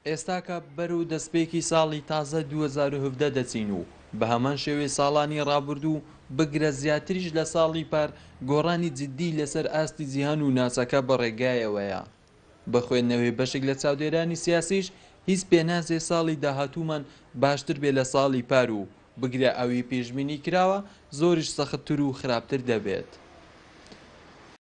ئێستاکە بەرەو دەستپێکی ساڵی تازە 2017 دەچین و بە هەمان شێوەی ساڵانی ڕابردوو بگرە زیاتریش لە ساڵی پار گۆڕانی جددی لەسەر ئاستی جیهان و ناچەکە بە ڕێگایەوەیە بە خوێندنەوەی بەشێک لە چاودێرانی سیاسیش هیچ پێناجێ ساڵی داهاتوومان باشتر بێ لە ساڵی پار و بگرە ئەوی پێشبینی کراوە زۆریش سەختتر و خراپتر دەبێت.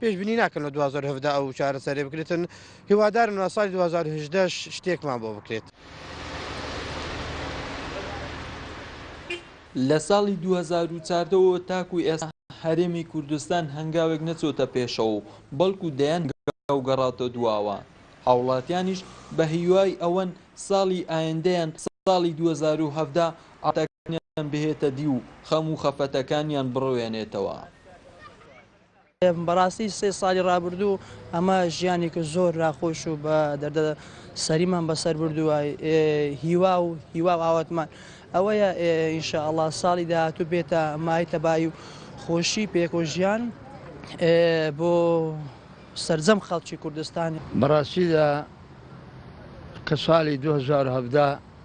پێشبینی ناکەم لە دوو هەزار و هەڤدە ئەو چارەسەرەی بکرێتن هیوادارم لە ساڵی دوو هەزار و هەژدە ش شتێکمان بۆ بکرێت. لە ساڵی دوو هەزار و چاردە وە تاکو ئێستا هەرێمی کوردستان هەنگاوێک نەچۆتە پێشەوە و بەڵکو دەیان هەنگاو گەڕاوتە دواوە هاوڵاتیانیش بە هیوای ئەوەن ساڵی ئایندەیان ساڵی دوو هەزار و هەڤدە ئاواتەکانیان بهێتە دی و خەم و خەفەتەکانیان بڕوێنێتەوە. بەڕاستی سێ ساڵی ڕابردوو ئەمە ژیانێکی زۆر راخۆش و بە دەردە سەریمان بەسەر بردووە هیوا و هیوا و ئاواتمان ئەوەیە ئینشاء الله ساڵی داهاتوو بێتە مای تەبایی و خۆشی پێکۆ ژیان بۆ سرجەم خەڵکی کوردستانی بەڕاستیدا کە ساڵی 2017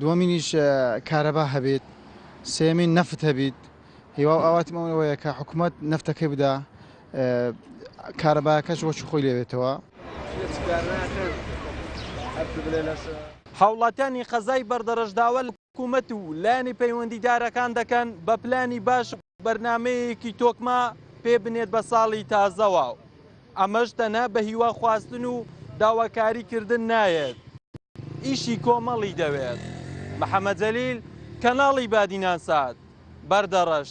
دووەمینیش کارەبا هەبیت سێمین نەفت هەبیت هیوا و ئاواتم ئەوە وەیە کە حکوومەت نەفتەکەی بدا کارەباکەش وەچ خۆی لێبێتەوە. هاوڵاتیانی قەزای بەردەڕەش داوا لە حکوومەت و لایەنی پەیوەندیدارەکان دەکەن بە پلانی باش و بەرنامەیەکی تۆکمە پێ بنێت بە ساڵی تازەوە. ئەمەش تەنها بە هیوا خواستن و داواکاری کردن نایەت ئیشی کۆمەڵی دەوێت. محەمەد جەلیل، کەناڵی بادینان سات، بەردەڕەش.